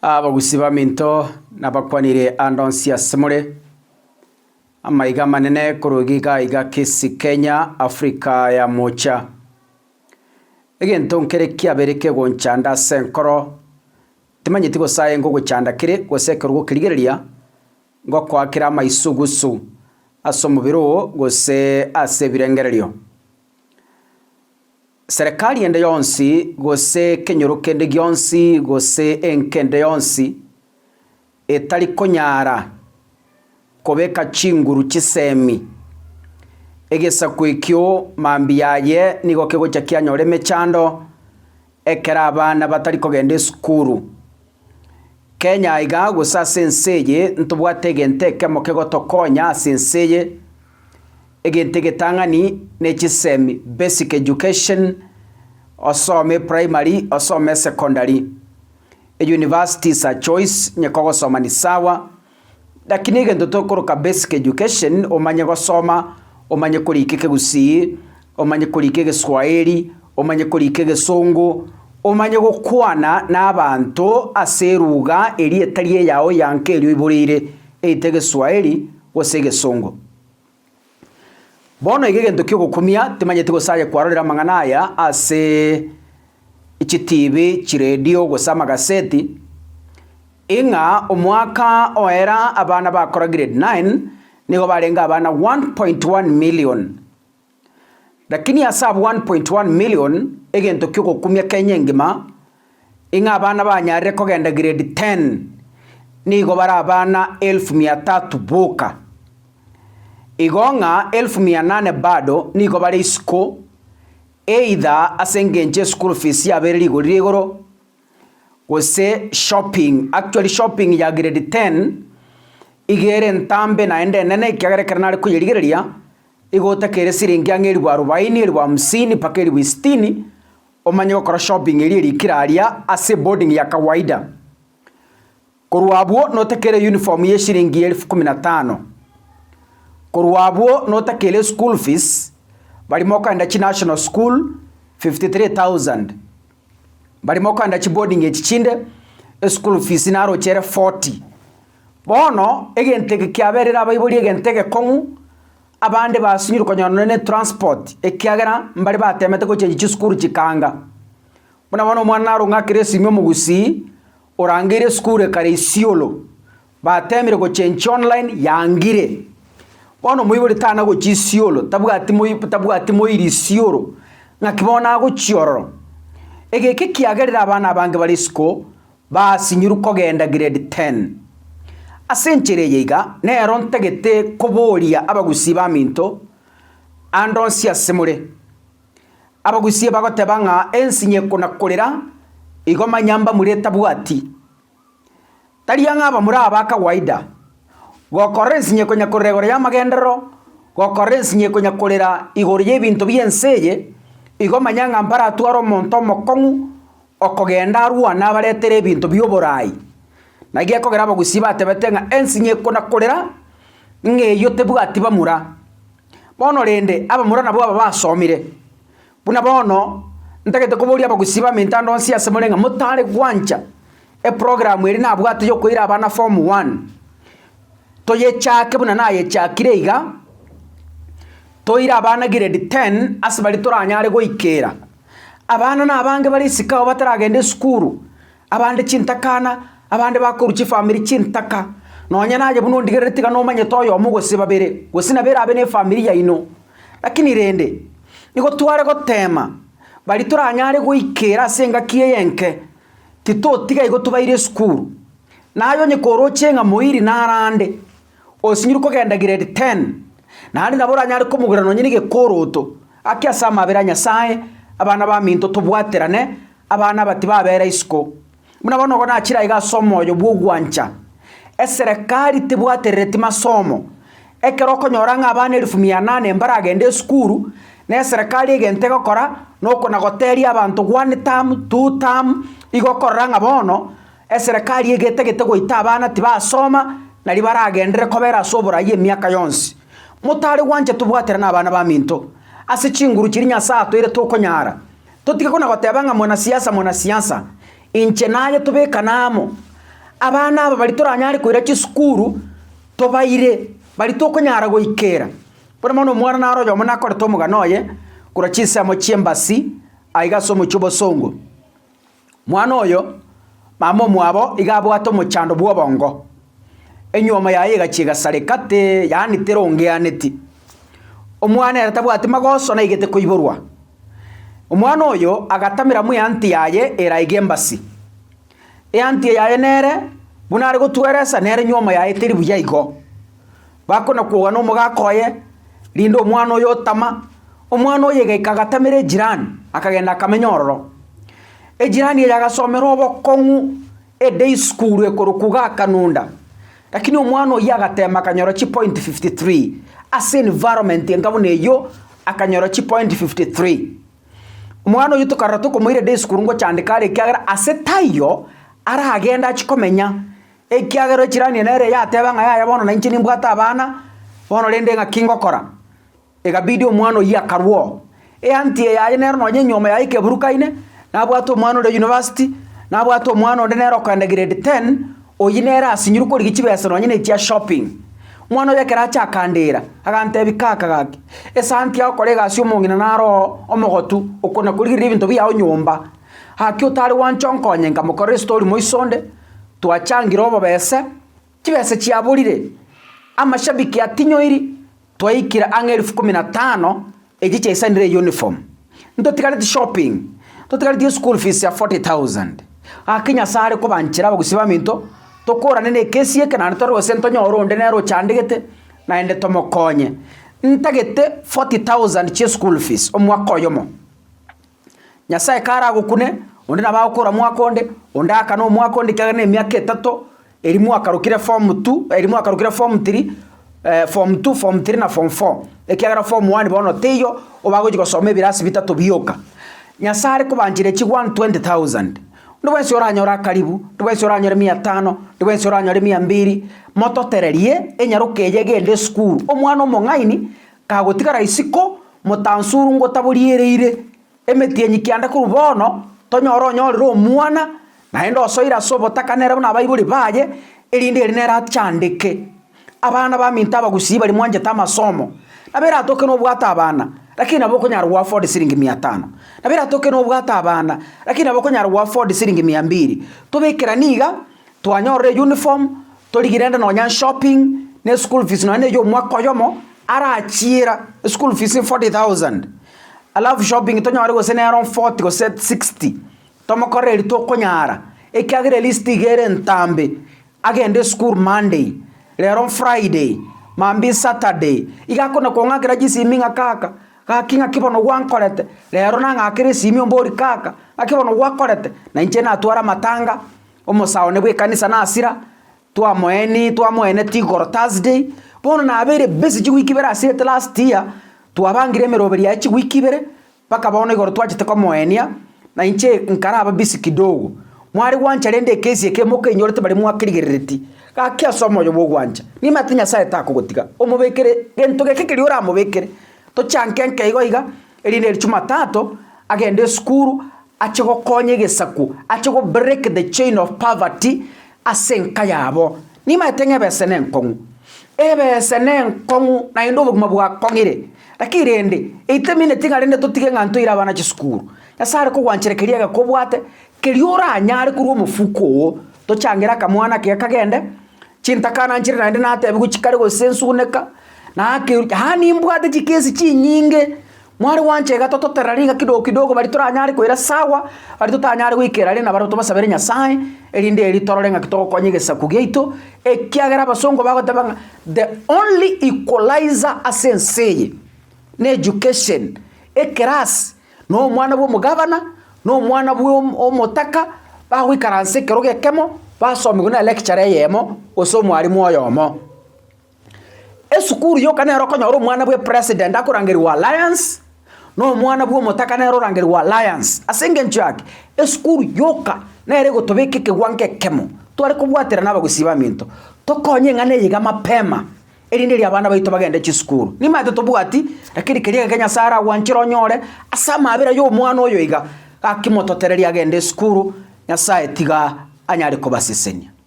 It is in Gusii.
Abagusi baminto nabakwanire ande onsi asemore, amaiga amanene koruga iga iga kesi Kenya, Africa ya mocha. Egento nkere kiabere kegoncha ande ase enkoro, timanyeti gose aye ngogochanda kere gose ekero gokerigereria, ngokoakera amaisugusu ase omobere oo gose ase ebirengererio. Serekari ende yonsi, gose ekenyoro kende gionsi, gose enka ende yonsi, etari konyara kobeka chinguru chisemi, egesaku ekio mambia aye nigo kegocha kianyora emechando, Ekero abana batari kogenda esukuru. Kenya iga gose ase ense eye ntobwate egento ekemo kegotokonya ase ense eye, egento egetang'ani ne chisemi, basic education, osome primary, osome secondary. Universities are choice, onye kogosoma ni sawa, Naki negento tokoroka basic education, omanye gosoma, omanye korika ekegusii, omanye korika egeswahili, omanye korika egesongo, omanye gokwana nabaanto ase eruga eria etari eyao eyanka eria oiboreire, eitwe egeswahili gose egesongo. Bono iga egento ki'ogokumia, timanyeti gose aye kwarorire amang'ana aya ase chitibi, chiredio, gose amagaseti, ing'a omwaka oera abana bakora grade nine nigo barenge abana one point one million. Lakini ase abwo one point one million, egento ki'ogokumia Kenya engima. Ing'a abana banyarire kogenda grade ten nigo bare abana elfu mia tatu boka. Igo ng'a elfu mia nane bado nigo bare isiko, either ase engencho ya school fees yabo ere rigori ria igoro, gose shopping. Actually shopping ya grade ten iga ere entambe naende enene ekiagera ekero nare koyerigereria, iga otakeire siringi ang'e elfu arubaini, elfu hamsini mpaka elfu sitini, Omanye gokora shopping eria eri kera aria ase boarding ya kawaida. Korwa abwo notakeire uniform ye shilingi elfu kumi na tano. Korwa abwo notakeire school fees barimo okogenda chi national school fifty three thousand. Barimo okogenda chi boarding echi chinde eschool fees naroche ere forty. Bono egento eke kiaberire abaibori egento egekong'u Abande basinyire konyora nonye ne transport ekiagera mbare batemete gochengi chisukuru chikaanga. Buna bono omwana naro ng'akere esimi omogusii, orangeire esukuru ekare Isiolo, batemire gochengi online yangire. Bono omoibori tana gochia Isiolo tabwati moi tabwati moiri Isiolo ng'aki bono agochia ororo. Egeki ekiagerire abana abange bare isiko. Basinyuru kogenda grade ten. Ase enchera eye iga nero ntagete koboria abagusii baminto ande onsi ase more. Abagusii bagoteba ng'a ensi nyeko na korera igo manya mbamure etabwati. Tari ang'e abamura aba kawaida. Gokorora ensi nyeko nyakorera igoro y'amagenderero, gokorora ensi nyeko nyakorera igoro y'ebinto bi'ense eye, igo manya ng'a mbaratware omonto omokong'u Okogenda arwane abaretere ebinto bi'oboraai, na gekogera abagusii batebete ng'a ensinyeko na korera ng'eyio tebwati bamura. Bono rende, abamura nabwo aba basomire. Buna bono, ntagete koboria abagusii b'amentando onsi ase more ng'a motare gwancha eprogramu eri nabwate yokoira abana form one, toyechake buna nayechakire iga, toire abana grade ten ase baria toranyare goikera. Abana nabange bare isiko ao bataragenda esukuru, abande chintakana, abande bakorwa chifamiri chintaka. Nonya naye buna ondigerere tiga nomanyete oyomo gose babere, gose nabo erabe nefamiri yaino. Lakini rende, nigo tware goteema, baria toranyare goikera ase engaki eye enke, titotiga igo tobaire esukuru. Naye onye koroche ng'a moiri nare ande, Osinyire kogenda giredi ten, naende nabo oranyare komogwera nonye negekooroto gake ase amabera a Nyasae, Abana baminto tobwaterane, abana aba tibabeera isiko. Buna bono igo nachire aiga ase omoyo bw'ogwancha. Eserekari tebwaterereti masomo. Ekero okonyora ng'a abana elifu mia nane mbaragende esukuru, na eserekari egento egokora, noko nagoteria abanto one term, two term, igo okorora ng'a bono Eserekari egetagete goita abana tibasoma nario baragenderere kobera ase oboraai emiaka yonsi. Motare gwancha tobwaterane abana baminto ase chinguru chiria Nyasae atoeire tokonyara. Totige kona goteba ng'a mwanasiasa mwanasiasa. Inche naye tobekane amo. Abana aba baria toranyare koira chisukuru tobaire baria tokonyara goikera. Buna bono omwana naro oyomo nakorete omogano oye korwa chinsemo chi'embasi aiga ase omochie o Bosongo. Mwana oyo, mama omwabo iga abwate omochando bw'obongo, enyuomo yaye egachia egasareka te, yaani terongeaneti. Omwana ere tabwati magoso naigete koiborwa. Omwana oyo agatamera mo eanti yaye eraige embasi. Eanti yaye nere buna are gotweresa nere enyuomo yaye teri buya igo. Bakonakwoga nomogaka oye, rinde omwana oye otama, omwana oye gaika agatamera ejirani, akagenda akamenya ororo. Ejirani eye agasomera obokong'u eday school ekorokwa iga Kanunda, lakini omwana oyio agatema akanyora chipoint fifty three, ase environment enga buna eyio akanyora chipoint fifty three. Omwana oyio tokarora tokomoira eday school ngochandeka are ekiagera ase taiyo aragende achikomenya. Ekiagera ochiranie nere yateba ng'a yaya bono nainche nimbwate abana, bono rende ng'aki ngokora? Egabidi omwana oyio akarwa oo. Eanty eye yaye nero nonye nyoma yaye Keburukaine, nabwate omwana ore university, nabwate omwana onde nere okoenda grade ten, oyio nere asinyirwe korigia chibesa nonye ne chia shopping. Omwana oyio ekero acha akandira, agantebi kaka gaki, esanti yao kora egasi omong'ina naro oo omogotu, okona korigereria ebinto biao nyomba, gaki otare gwancha onkonye, nkamokorera estory moiso onde. Twachangire obobese, chibese chiaborire, amashabiki atinyoiri, twaikire ang'e elfu kumi na tano echi chiaisanire euniform, ntotigareti shopping, ntotigareti eschool fees ya 40,000. Gaki Nyasae are kobanchera abagusi baminto, tokorane nekesi eke naende tore gose ntonyore onde nere ochandegete naende tomokonye. Ntagete 40,000 chi'eschool fees omwaka oyomo. Nyasae kare agokune, onde nabo agokora omwaka onde, onde aakane omwaka onde ekiagera na emiaka etato eria mwakarokire form two, eria mwakarokire form three, form two, form three na form four, ekiagera form one bono teiyo, obo agochia gosoma ebirasi bitato bioka. Nyasae are kobanchere chi one twenty thousand, onde bwensi oranyore akaribu, onde bwensi oranyore mia tano, onde bwensi oranyore mia mbiri, mototererie enyaroka eye egende esukuru, omwana omong'aini Kagotigara isiko motansuru ngotaboriereire, emetienyi kianda korwa bono tonyore onyorire omwana, naende osoire ase obotakanere buna abaibori baye, erinde ere nere achandeke. Abana baminto abagusii baria mwanchete amasomo, nabo eratoke nobwate abana, lakini nabo okonyara goafford siringi mia tano, nabo eratoke nobwate abana, lakini nabo okonyara goafford siringi mia mbiri, tobekera niga. twanyorire eyuniform, torigire rende nonya shopping, ne eschool fees nonya neye omwaka oyomo, arachiera eschool fees forty thousand, alafu shopping tonyore gose nere omforty gose sixty, tomokorere eria tokonyara, ekiagera elist iga ere entambe, agende esukuru monday, rero friday, mambia saturday, iga akona kong'akera chisimi ng'a kaka, Gaki ng'aki bono gwankorete, reero nang'akere esimi ombori, Kaka, ng'aki bono gwakorete, na inche natware amatanga, omosaone bw'ekanisa nasira, twamoeeni twamoeneti igoro Thursday, bono nabeire busy chiwiki ibere asirete last year, twabangire emeroberio yaye chiwiki ibere, mpaka bono igoro twachete komoenia. Na inche nkaraba bisi kidogo, mware gwancha rende ekesi eke mokenyorete baria mwakerigerereti, gaki ase omoyo bw'ogwancha, nimanyete Nyasae takogotiga, omobekere gento geke keria oramobekere. Tochanke nka igo iga, erinde eri Chumatatu agende esukuru, ache gokonya egesaku, ache go break the chain of poverty, Ase enka yabo nimaete ng'a ebese nenkong'u. Ebese nenkong'u naende obogima bwakong'ire, lakini rende eitemineti ng'a rende totige ng'a ntoire abana chisukuru. Nyasae are kogwanchera keria egeka obwate, keria oranyare korwa omofuko oo. Tochangere akamwana ake kagende, chintaka ananchire naende natebiwe chikare gose nsuguneka, naki, yaani mbwate chikesi chinyinge. Mware gwancha iga tototerera riga kidogo kidogo baria toranyare koira sawa, baria totanyare goikera are nabaro tobasabere Nyasae, erinde erio torore ng'aki togokonya egesaku giaito, ekiagera abasongo bagoteba ng'a the only equalizer ase ense eye na education, ekerasi, na omwana bwa omogabana, na omwana bwa om- omotaka, bagoikaransa ekerogo ekemo, basomigwe na electurer eyemo gose omwarimu oyomo. Esukuru yoka nero okonyora omwana bw'epresident akorangerwa Alliance, na omwana bw'omotaka nere orangerwa Alliance. Ase engencho yake, esukuru yoka nere egotobeka ekegwa ng'ekemo tware kobwaterana abagusii baminto, tokonye ng'a neye iga mapema, erinde erio abana baito bagende chisukuru. Nimanyete tobwati, rakini keria egeke Nyasaye aragwanchore onyore ase amabera y'omwana oyo iga, gaki mototererie agende esukuru, Nyasaye tiga anyare kobasesenia.